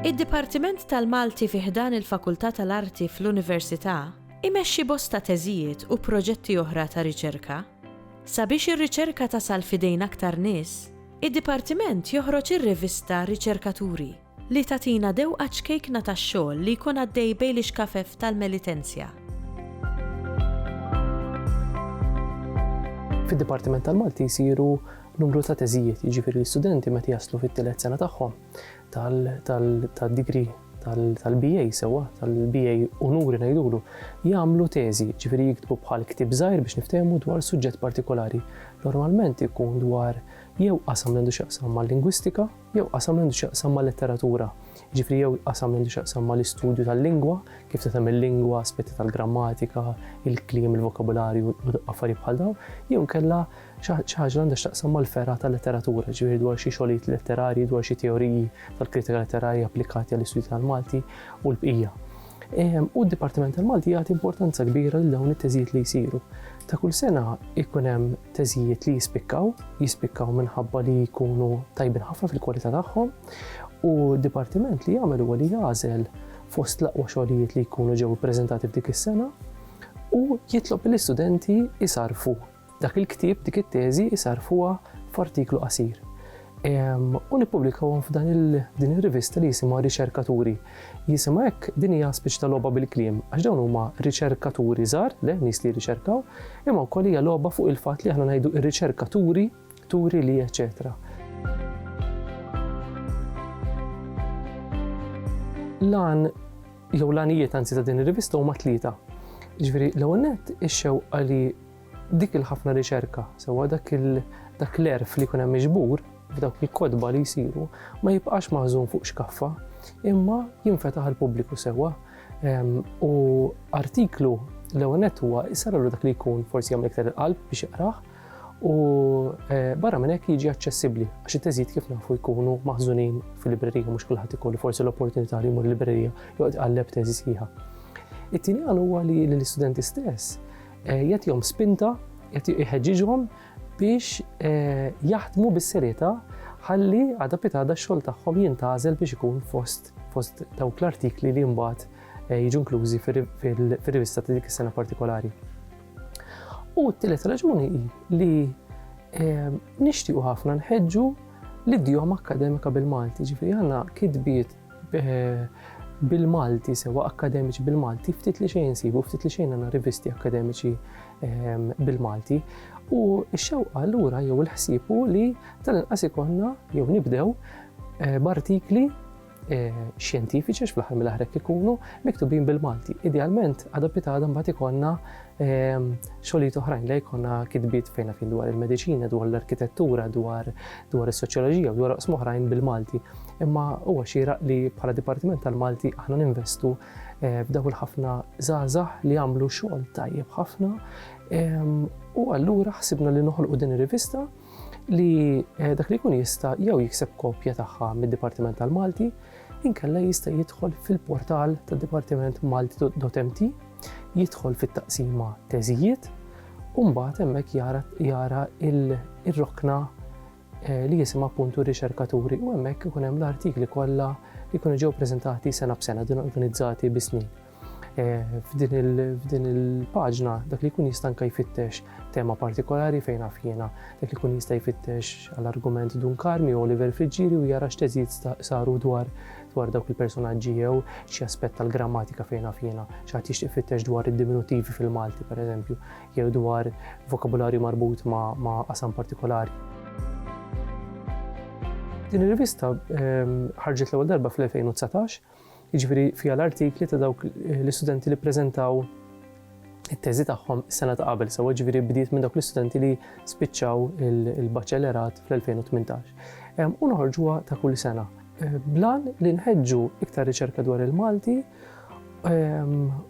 Id-Dipartiment tal-Malti fi ħdan il-Fakultà tal-Arti fl-Università imexxi bosta teżijiet u proġetti oħra ta' riċerka. Sabiex ir-riċerka tasal f'idejn aktar nies, Id-Dipartiment joħroġ ir-rivista Riċerkaturi, li tagħtina dewqa ċkejkna tax-xogħol li jkun għaddej bejn l-ixkafef tal-Melitensia. Fid-Dipartiment tal-Malti jsiru numru ta' teżijiet, jiġifieri l-istudenti meta jaslu fit-tielet sena tagħhom, tal-degree tal-BA sewa, tal-BA unuri ngħidulu, jagħmlu teżi, ġifieri jiktbu bħal ktib żgħir biex niftehmu dwar suġġett partikolari. Normalment ikun dwar jew qasam li għandu x'jaqsam mal-lingwistika, jew qasam li għandu x'jaqsam mal-letteratura. Ġifieri jew qasam li għandu x'jaqsam mal-istudju tal-lingwa, kif tagħmel il-lingwa, aspetti tal-grammatika, il-kliem, il-vokabularju u affarijiet bħal dawn, jew kella Xi ħaġa li għandha x'taqsam mal-fergħa tal-letteratura, jiġifieri dwar xi xogħlijiet letterarji, dwar xi teoriji tal-kritika letterarja applikati għall-istudji tal-Malti u l-bqija. U d-Dipartiment tal-Malti jagħti importanza kbira lil dawn it-teżijiet li jsiru. Ta' kull sena jkun hemm teżijiet li jispikkaw, jispikkaw minħabba li jkunu tajbin ħafna fil-kwalità tagħhom u d-dipartiment li jagħmel huwa li jagħżel fost l-aqwa xogħlijiet li jkunu ġew ippreżentati f'dik is-sena u jitlob lill-istudenti isarfu Dak il-ktieb, dik it-teżi isarrfuha f'artiklu qasir u nippubblikawhom f'dan din ir-rivista li jisimha Riċerkaturi. Jisimha hekk din hija spiċċ ta' logħba bil-kliem għax dawn huma riċerkaturi żgħar, le nies li jirriċerkaw, imma wkoll hija logħba fuq il-fatt li aħna ngħidu r-riċerkaturi, turi li eċetera. Lan jew lanijiet anzi ta' din ir-rivista huma tlieta. Ġifieri l-ewwel nett ix-xewqa li Dik il-ħafna riċerka, sewwa dak dak l-għerf li jkun hemm miġbur f'dawk il-kotba li jsiru, ma jibqax maħżun fuq xkaffa, imma jinfetaħ għall-pubbliku sewwa. Ehm, u artiklu l-ewwel nett huwa jsarlu dak li jkun forsi jagħmel iktar il-qalb biex jaqrah, u eh, barra minn hekk jiġi aċċessibbli għax it-teżid kif nafu jkunu maħżunin fil-librerija mhux kulħadd ikollu forsi l-opportunità li jmur librerija joqgħod qalleb teżi sħiħa. It-tieni għal huwa li l-istudenti stess Eh, jagħtihom spinta, jħeġġiġhom biex eh, jaħdmu bis-serjetà ħalli għada pitada x-xogħol tagħhom jintgħażel biex ikun fost fost dawk l-artikli li mbagħad eh, jiġu inklużi fir-rivista ta' dik is-sena partikolari. U t-tielet raġuni hi li nixtiequ ħafna nħeġġu l-idjom akademika bil-Malti, ġifieri għandna kitbiet bil-Malti, sewa akkademiċi bil-Malti, ftit li xejn sibu, ftit li xejn għandna rivisti akkademiċi ehm, bil-Malti. U x-xewqa allura jew il-ħsieb hu li tal-inqas ikonna jew nibdew eh, b'artikli eh, xjentifiċi fl-aħħar mill-aħrek ikunu miktubin bil-Malti. Idealment, adapitada mbagħad ikonna ehm, xogħlijiet oħrajn li jkollna kitbiet fejn fin dwar il-mediċina, dwar l-arkitettura, dwar dwar is-soċjoloġija, dwar oqsmoħrajn bil-Malti. Imma huwa xieraq li bħala Dipartiment tal-Malti aħna ninvestu eh, f'dawk il-ħafna żgħażagħ li jagħmlu xogħol tajjeb ħafna. Ehm, u allura ħsibna li noħolqu din ir-rivista li eh, dak li jkun jista' jew jikseb kopja tagħha mid-Dipartiment tal-Malti, inkella jista' jidħol fil-portal tad-Dipartiment Malti.mt, jidħol fit-taqsima teżijiet, u mbagħad hemmhekk jara il-rokna li jisimha appuntu Riċerkaturi u hemmhekk ikun hemm l-artikli kollha li jkunu ġew preżentati sena b'sena din organizzati bi snin. F'din il-paġna dak li jkun jista' anke jfittex tema partikolari fejn naf jiena, dak li jkun jista' jfittex għall-argument Dun Karmi u Oliver Friġġieri u jara x'teżid saru dwar dwar dawk il-personaġġi jew xi aspett tal-grammatika fejn naf jiena, xi ħadd jixtieq jfittex dwar id-diminutivi fil-Malti pereżempju. jew dwar vokabularju marbut ma' qasam partikolari. Din ir-rivista ehm, ħarġet l-ewwel darba fl-2019, jiġifieri fiha l-artikli ta' dawk l-istudenti li ppreżentaw it-teżi tagħhom sena ta' qabel, sewa ġifieri bdiet minn dawk l-istudenti li spiċċaw il-baċellerat fl-2018. Ehm, u noħorġuha ta' kull sena. Ehm, blan li nħeġġu iktar riċerka dwar il-Malti